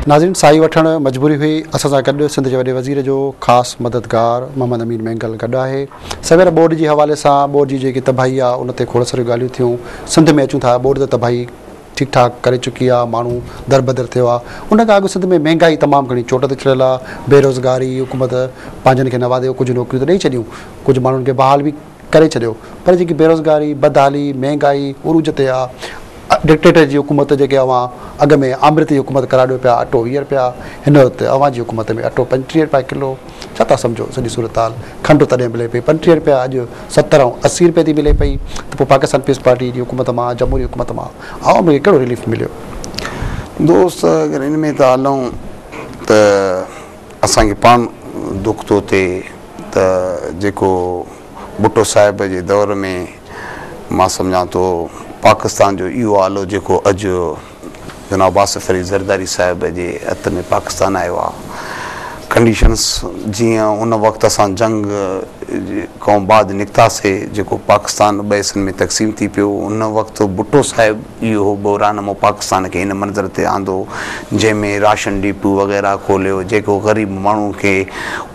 ناظرين ساهي وٺڻ مجبوري هئي اسان سان گڏ سنڌ جي وڏي وزير جو خاص مددگار محمد امين مينگل گڏ آهي سوير ٻوڏ جي حوالي سان ٻوڏ جي جيڪي تباهي آهي ان تي کوڙ ساريون ڳالهيون ٿيون سنڌ ۾ اچون ٿا ٻوڏ ته تباهي ٺيڪ ٺاڪ ڪري چڪي آهي ماڻهو دربدر ٿيو آهي ان کان اڳ سنڌ ۾ مهانگائي تمام گهڻي چوٽ تي چڙهيل آهي بيروزگاري حڪومت پنهنجن کي نوازي ڪجهه نوڪريون ته ڏئي ڇڏيون ڪجهه ماڻهن کي بحال به ڪري ڇڏيو پر جيڪي بيروزگاري، بدحالي، مهنگائي عروج تي آ، ڊڪٽيٽر جي حڪومت جيڪي اوهان اڳ ۾ آمريت جي حڪومت قرار ڏيو پيا اٽو ويهه رپيا هن وقت اوهان جي حڪومت ۾ اٽو پنجٽيهه رپيا ڪلو ڇا ٿا سمجهو سڄي صورتحال کنڊ تڏهن ملي پئي پنجٽيهه رپيا اڄ ستر ۽ اسي رپئي ٿي ملي پئي ته پوء پاڪستان پيپلز پارٽي جي حڪومت مان جمهوري حڪومت مان عوام کي ڪهڙو رليف مليو. دوست اگر ان ۾ ٿا هلون ته اسان کي پاڻ دک ٿو ٿئي ته جيڪو ڀٽو صاحب جي دور ۾ مان سمجهان ٿو پاڪستان جو اهو آلو جيڪو اڄ جناب آصف علي زرداري صاحب جي هٿ ۾ پاڪستان آيو آهي ڪنڊيشنس جيئن ان وقت اسان جنگ کان بعد نڪتاسي جيڪو پاڪستان ٻه حصن ۾ تقسيم ٿي پيو ان وقت ڀٽو صاحب اهو بحران مون پاڪستان کي ان منظر تي آندو جنهن ۾ راشن ڊيپو وغيره کوليو جيڪو غريب ماڻهو کي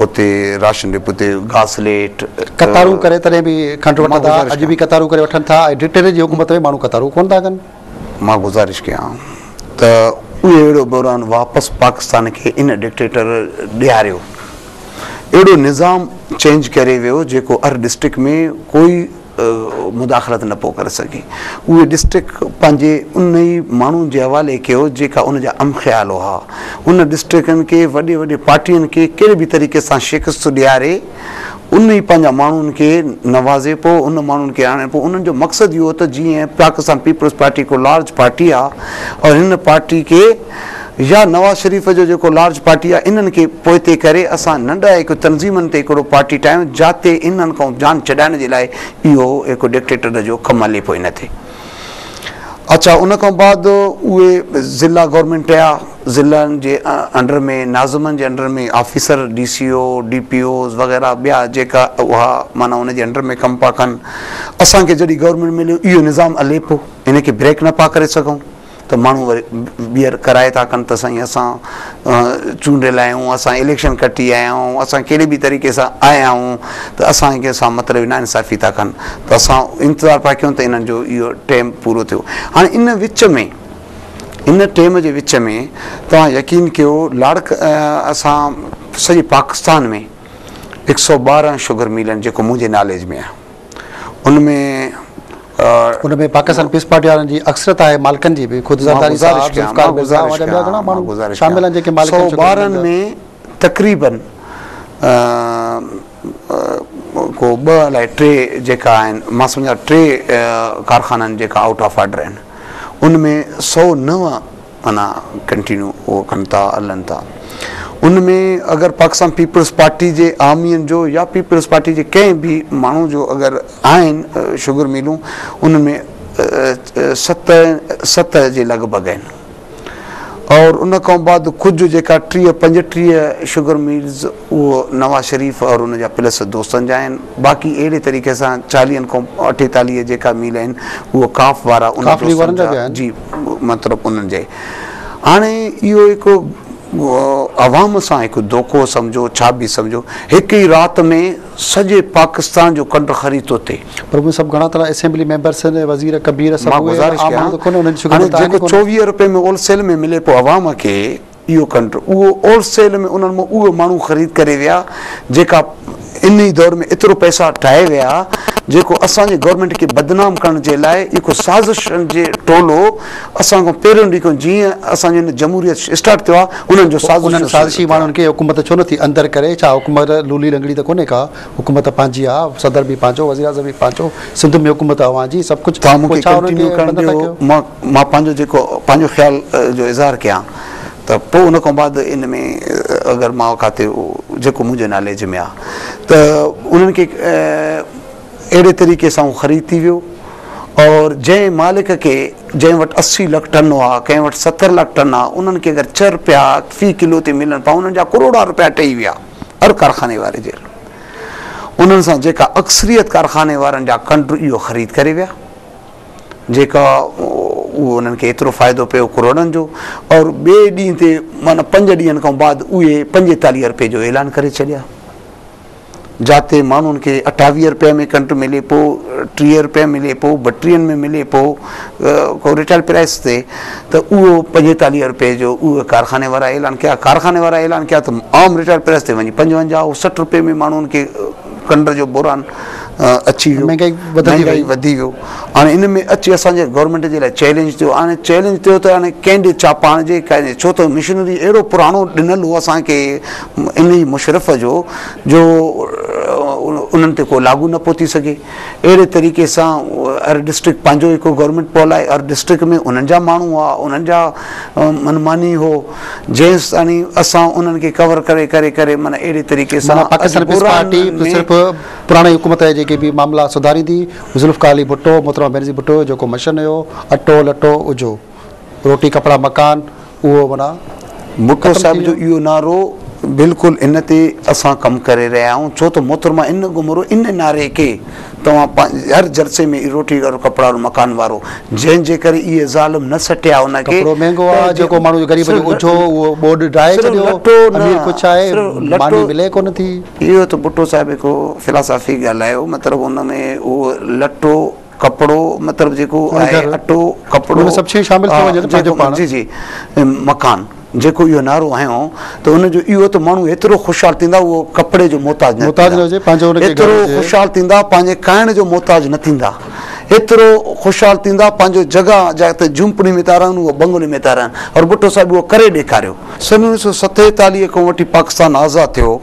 اتي راشن ڊيپو تي گاسليٽ. قطارون ڪري تڏهن به کنڊ وٺن ٿا اڄ به قطارون ڪري وٺن ٿا ۽ ڊٽيري جي حڪومت ۾ ماڻهو قطارون ڪونه ٿا ڪن. مان گذارش ڪيان ته اهڙو بحران واپس پاڪستان کي ان ڊڪٽيٽر ڏياريو اهڙو نظام چينج ڪري ويو جيڪو هر ڊسٽرڪٽ ۾ ڪوئي مداخلت نه پئو ڪري سگهي. اهي ڊسٽرڪٽ پنهنجي انهي ماڻهن جي حوالي ڪيو جيڪا ان جا ام خيال هئا. انهن ڊسٽرڪٽن کي وڏي وڏي پارٽين کي ڪهڙي به طريقي سان شڪست ڏياري انهي پنهنجا ماڻهن کي نوازي پئو ان ماڻهن کي آڻي پئو انهن جو مقصد اهو هو ته جيئن پاڪستان پيپلز پارٽي هڪ لارج پارٽي آ اور هن پارٽي کي يا نواز شريف جو جيڪو لارج پارٽي آ انهن کي پوئتي ڪري اسان ننڍا هڪ تنظيمن تي هڪڙو پارٽي ٺاهيون جاتي انهن کان جان ڇڏائڻ جي لاء اهو هڪ ڊڪٽيٽر جو ڪم هلي پوء نه ٿئي اڇا ان کان بعد اهي ضلع گورنمينٽ ٺهيا ضلعن جي انڊر ۾ ناظمن جي under ۾ officer D C O D P Os وغيره ٻيا جيڪا اها معنيٰ ان جي انڊر ۾ ڪم پيا ڪن اسان کي جڏهن گورنمينٽ مليو اهو نظام هلي پيو ان کي بريڪ نه پيا ڪري سگهون ته ماڻهو وري ٻيهر ڪرائي ٿا ڪن ته سائين اسان چونڊيل آهيون اسان اليڪشن کٽي آيا آهيون اسان ڪهڙي به طريقي سان آيا آهيون ته اسان کي سان مطلب نا انصافي ٿا ڪن ته اسان انتظار پيا ڪيون ته انهن جو اهو ٽيم پورو ٿيو هاڻي ان وچ ۾ ان ٽيم جي وچ ۾ توهان يقين ڪيو لاڙڪ اسان سڄي پاڪستان ۾ هڪ سؤ ٻارهن شگر ميلن جيڪو منهنجي ناليج ۾ آهي ان ۾ پاڪستان پيپلز پارٽي وارن جي اڪثريت آهي، مالڪن جي به خود ذرداري صاحب، ذوالفقار مرزا اوهان جا ٻيا گهڻا ماڻهو شامل آهن جيڪي مالڪن چونڊيل آهن. سو ٻارهن ۾ تقريبن ڪو ٻه الائي ٽي جيڪا آهن مان سمجهان ٽي ڪارخانن جيڪا آئوٽ آف آرڊر آهن ان ۾ سؤ نو معنيٰ ڪنٽينيو اهو ڪن ٿا هلن ٿا ان ۾ اگر پاڪستان پيپلز پارٽي جي عوامين جو يا پيپلز پارٽي جي ڪنهن به ماڻهو جو اگر آهن شگر ميلون ان ۾ ست ست جي لڳ ڀڳ آهن اور ان کان بعد ڪجهه جيڪا ٽيهه پنجٽيهه شگر ميلز اهي نواز شريف اور ان جا پلس دوستن جا آهن باقي اهڙي طريقي سان چاليهن کان اٺيتاليهه جيڪا ميل آهن اهي ڪاف وارا ان دوستن جا جي مطلب انهن جي هاڻي اهو هڪ عوام سان هڪ دوکو سمجهو ڇا به سمجهو هڪ ئي رات ۾ سڄي پاڪستان جو ڪنڊ خري ٿو ٿئي پر اهي سڀ گهڻا ٿورا اسيمبلي ميمبرس آهن وزير ڪبير سڀ اهي عام ماڻهو ته ڪونه انهن جي شڪل ته آهي ڪونه هاڻي جيڪو چوويهه روپين ۾ اول سيل ۾ ملي پيو عوام کي اهو کنڊ اهو اول سيل ۾ انهن مان اهي ماڻهو خريد ڪري ويا جيڪا انهي دور ۾ ايترو پئسا ٺاهي ويا جيڪو اسان جي گورنمينٽ کي بدنام ڪرڻ جي لاء اهو سازشن جي ٽولو اسان کان پهريون ڏينهن کان جيئن اسان جو هن جمهوريت اسٽارٽ ٿيو آهي انهن جو سازشي ماڻهن کي حڪومت ڇو نٿي اندر ڪري ڇا حڪومت لولي لنگڙي ته ڪونهي ڪا. حڪومت پنهنجي آ، صدر به پنهنجو، وزيراعظم به پنهنجو، سنڌ ۾ حڪومت اوهان جي، سڀ ڪجهه، توهان مون کي ڪنٽينيو ڪرڻ ڏيو، مان پنهنجو جيڪو پنهنجو خيال جو اظهار ڪيان ته پوء ان کان بعد ان ۾ اگر مان ڪاتي جيڪو منهنجي ناليج ۾ آ ته انهن کي اهڙي طريقي سان اهو خريد ٿي ويو اور جنهن مالڪ کي جنهن وٽ اسي لک ٽن هئا ڪنهن وٽ ستر لک ٽن آ انهن کي اگر ڇهه رپيا في ڪلو تي ملن پيا انهن جا ڪروڙا رپيا ٽهي ويا. هر ڪارخاني واري جي انهن سان جيڪا اڪثريت ڪارخاني وارن جا ڪنڊر اهو خريد ڪري ويا جيڪا اهو انهن کي ايترو فائدو پيو ڪروڙن جو اور ٻئي ڏينهن تي معنی پنج ڏينهن کان بعد اهي پنجيتاليهه روپئي جو اعلان ڪري ڇڏيا جاتي ماڻهن کي اٺاويهه روپئي ۾ ڪنڊ ملي پيو ٽيهه روپئي ملي پيو ٻٽيهن ۾ ملي پيو ڪو ريٽيل پرائيس تي ته اهو پنجيتاليهه روپيه جو اهي ڪارخاني وارا اعلان ڪيا ڪارخاني وارا اعلان ڪيا ته عام ريٽيل پرائيس تي وڃي پنجونجاهه سٺ روپيه ۾ ماڻهن کي کنڊ جو بوران اچي ويو مهانگائي وڌي ويو هاڻي ان ۾ اچي اسان جي گورنمينٽ جي لاء چئلينج ٿيو هاڻي چئلينج ٿيو ته هاڻي ڪنهن ڏي ڇا پاڻ جي ڪنهن ڇو ته مشنري اهڙو پراڻو ڏنل هو اسان کي انهي مشرف جو جو انهن تي ڪو لاڳو نه پهو ٿي سگهي اهڙي طريقي سان ار ڊسٽرڪٽ پنهنجو هڪ گورنمينٽ پول آهي ار ڊسٽرڪٽ ۾ انهن جا ماڻهو هئا انهن جا من ماني هو جيستاڻي اسان انهن کي ڪور ڪري ڪري ڪري معنيٰ اهڙي طريقي سان معنيٰ پاڪستان پيپلز پارٽي ته صرف پراڻي حڪومت جي جيڪي به معاملا سڌاريندي ذوالفقار علي ڀٽو محترمه بينظير ڀٽو جو جيڪو مشن هيو اٽو لٽو اجهو روٽي ڪپڙا مڪان اهو معنيٰ ڀٽو صاحب جو اهو نعرو بلڪل ان تي اسان ڪم ڪري رهيا آهيون ڇو ته محترمه ان گهمرو ان نعري کي توهان پنهنجي هر جلسي ۾ روٽي ڏيو ڪپڙا ڏيو مڪان وارو جنهن جي ڪري اهي ظالم نه سٽيا ان کي ڪپڙو مهنگو آهي جيڪو ماڻهو غريب جو اجهو اهو ٻوڏ ڊاهي ڇڏيو امير ڪجهه آهي ماني ملي ڪونه ٿي اهو ته ڀٽو صاحب هڪ فلاسافي ڳالهايو مطلب ان ۾ اهو لٽو ڪپڙو مطلب جيڪو آهي اٽو ڪپڙو ان سڀ شيون شامل ٿيون وڃن پنهنجو پاڻ جي جي مڪان جيڪو اهو نعرو هنيو ته ان جو اهو ته ماڻهو ايترو خوشحال ٿيندا اهو ڪپڙي جو محتاج نه محتاج نه هجي پنهنجو ان کي گهر هجي ايترو خوشحال ٿيندا پنهنجي کائڻ جو محتاج نه ٿيندا ايترو خوشحال ٿيندا پنهنجو جڳهه جتي جهونپڙي ۾ ٿا رهن اهو بنگلي ۾ ٿا رهن اور ڀٽو صاحب اهو ڪري ڏيکاريو. سن اوڻيھ سؤ ستيتاليھ کان وٺي پاڪستان آزاد ٿيو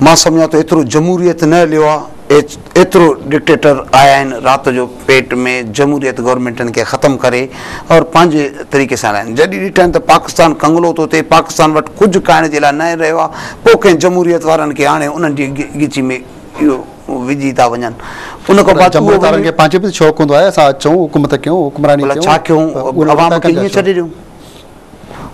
مان سمجهان ٿو ايترو جمهوريت نه هليو آهي ايچ. ايترو ڊڪٽيٽر آيائين رات جو پيٽ ۾ جمهوريت گورنمينٽن کي ختم ڪري اور پنهنجي طريقي سان هلايائين جڏهن ڏٺائين ته پاڪستان ڪنگلو ٿو ٿئي پاڪستان وٽ ڪجهه کائڻ جي لاء ناهي رهيو آ پو ڪنهن جمهوريت وارن کي آڻي انهن جي ڳچي ۾ اهو وجهي ٿا وڃن ان کان بعد جمهوريت وارن کي پنهنجي به شوق هوندو آهي اسان اچون حڪومت ڪيون حڪمراني ڪيون ڀلا ڇا ڪيون عوام کي ائين ڇڏي ڏيون.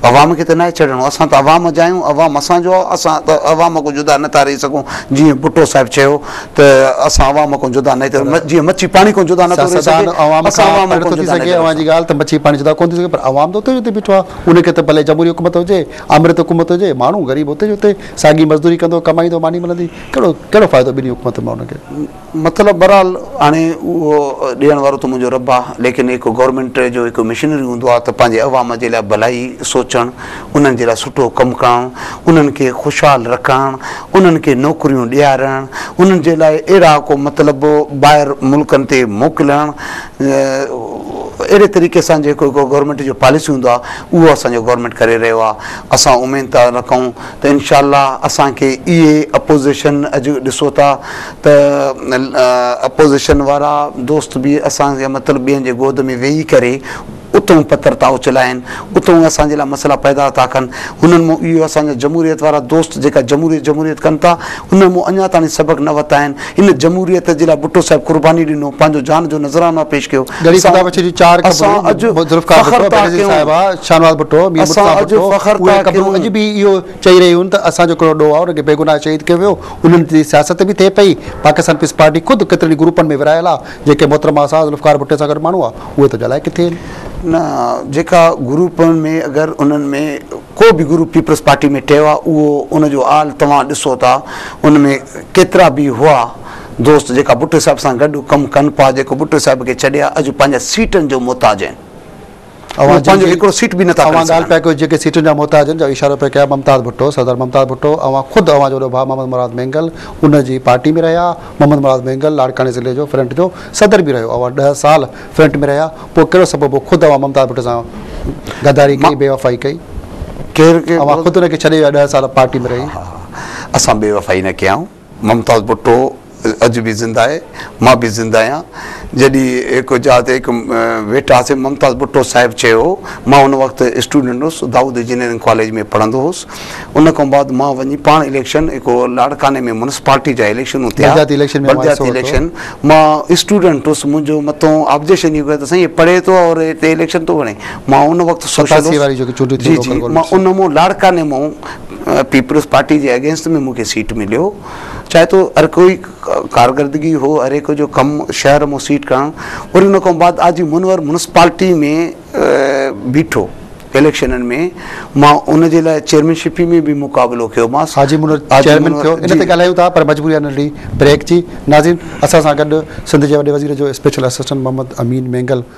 عوام کي ته ناهي ڇڙڻو، اسان ته عوام جا آهيون، عوام اسان جو آهي، اسان ته عوام کان جدا نه ٿا رهي سگهون، جيئن ڀٽو صاحب چيو ته اسان عوام کان جدا نه ٿيون، جيئن مڇي پاڻي کان جدا نه ٿو رهي سگهي، اسان عوام کان جدا نه ٿي رهي سگهون. ڳالهه ته مڇي پاڻي جدا ڪونه ٿي سگهي پر عوام ته اتي جو اتي بيٺو آهي، ان کي ته ڀلي جمهوري حڪومت هجي، آمريت حڪومت هجي، ماڻهو غريب اتي جو اتي ساڳي مزدوري ڪندو، ڪمائيندو، ماني ملندي، ڪهڙو ڪهڙو فائدو ٻنهي حڪومتن مان ان کي؟ مطلب بھرحال ھاڻي اھو ڏيڻ وارو ته منھنجو رب آھي ليڪن ھڪ گورنمينٽ جو ھڪ مشنري ھوندو آھي ته پنھنجي عوام جي لاء ڀلائي سوچڻ انھن جي لاء سٺو ڪم ڪرڻ انھن کي خوشحال رکڻ انھن کي نوڪريون ڏيارڻ انھن جي لاء اھڙا ڪو مطلب ٻاھر ملڪن تي موڪلڻ اھڙي طريقي سان جيڪو ھڪ گورنمينٽ جو پاليسي ھوندو آھي اھو اسان جو گورنمينٽ ڪري رھيو آھي اسان اميد ٿا رکون ته انشاء الله اسان کي اھي اپوزيشن اڄ ڏسو ٿا ته اپوزيشن وارا دوست به اسان جي مطلب ٻين جي گود ۾ ويهي ڪري اتهون پٿر ٿا اڇلائين، اتهون اسان جي لاء مسئلا پيدا ٿا ڪن. هنن مون اهو اسان جا جمهوريت وارا دوست جيڪا جمهوريت جمهوريت ڪن ٿا، انهن مون اڃا تاڻي سبق نه وتا آهن. ان جمهوريت جي لاء ڀٽو صاحب قرباني ڏنو، پنهنجو جان جو نذرانو پيش ڪيو. اسان اڄ فخر ٿا ڪيون. انهن تي سياست به ٿئي پئي، پاڪستان پيپلز پارٽي خود ڪيترن ئي گروپن ۾ ورهايل آ، جيڪي محترم آزاد ذوالفقار ڀٽي سان گڏ ماڻهو آ، اهي ته جلائي ڪٿي هين. نه جيڪا گروپن ۾ اگر انهن ۾ ڪو به گروپ پيپلز پارٽي ۾ ٽيو آ، اهو ان جو آل توهان ڏسو ٿا، ان ۾ ڪيترا به هئا دوست جيڪا ڀٽي صاحب سان گڏ ڪم ڪن پا، جيڪو ڀٽي صاحب کي ڇڏي اڄ پنهنجا سيٽن جو محتاج هين. اوهان جي پنهنجو هڪڙو سيٽ به نه ٿا کڻي سگهن. اوهان ڳالهه پيا ڪيو جيڪي سيٽن جا محتاج آهن جو اشارو پيا ڪيا ممتاز ڀٽو صدر ممتاز ڀٽو اوهان خود اوهان جو وڏو ڀاء محمد مراد مينگل ان جي پارٽي ۾ رهيا محمد مراد مينگل لاڙڪاڻي ضلعي جو فرنٽ جو صدر به رهيو اوهان ڏهه سال فرنٽ ۾ رهيا پوء ڪهڙو سبب هو خود اوهان ممتاز ڀٽو سان غداري ڪئي بيوفائي ڪئي اوهان خود ان کي ڇڏي ويا ڏهه سال پارٽي ۾ رهي. اسان بيوفائي نه ڪيائون. ممتاز ڀٽو اڄ به زنده آهي مان به زنده آهيان جڏهن هڪ جاء تي هڪ ويٺا هئاسين ممتاز ڀٽو صاحب چيو هو مان ان وقت اسٽوڊنٽ هوس دائود انجنيئرنگ ڪاليج ۾ پڙهندو هوس ان کان بعد مان وڃي پاڻ اليڪشن هڪ لاڙڪاني ۾ مونسپالٽي جا اليڪشنون ٿيا بلدياتي اليڪشن ۾ بلدياتي اليڪشن مان اسٽوڊنٽ هوس منهنجو متون آبجيڪشن هي ڪيو ته سائين هي پڙهي ٿو اور هتي اليڪشن ٿو وڙهي مان ان وقت سوشل هوس جي جي مان ان مون لاڙڪاني مون پيپلز پارٽي جي اگينسٽ ۾ مون کي سيٽ مليو چاهي تو هر ڪوئي ڪارگردگي هو هر هڪ جو ڪم شهر مون سيٽ ڪرڻ وري ان کان بعد آجي منور منسپالٽي ۾ بيٺو اليڪشنن ۾ مان ان جي لاء چيئرمين شپي ۾ به مقابلو ڪيو ماس حاجي منور چيئرمين ٿيو ان تي ڳالهايون ٿا پر مجبوري آهي ننڍڙي بريڪ جي ناظرين اسان سان گڏ سنڌ جي وڏي وزير جو اسپيشل اسسٽنٽ محمد امين مينگل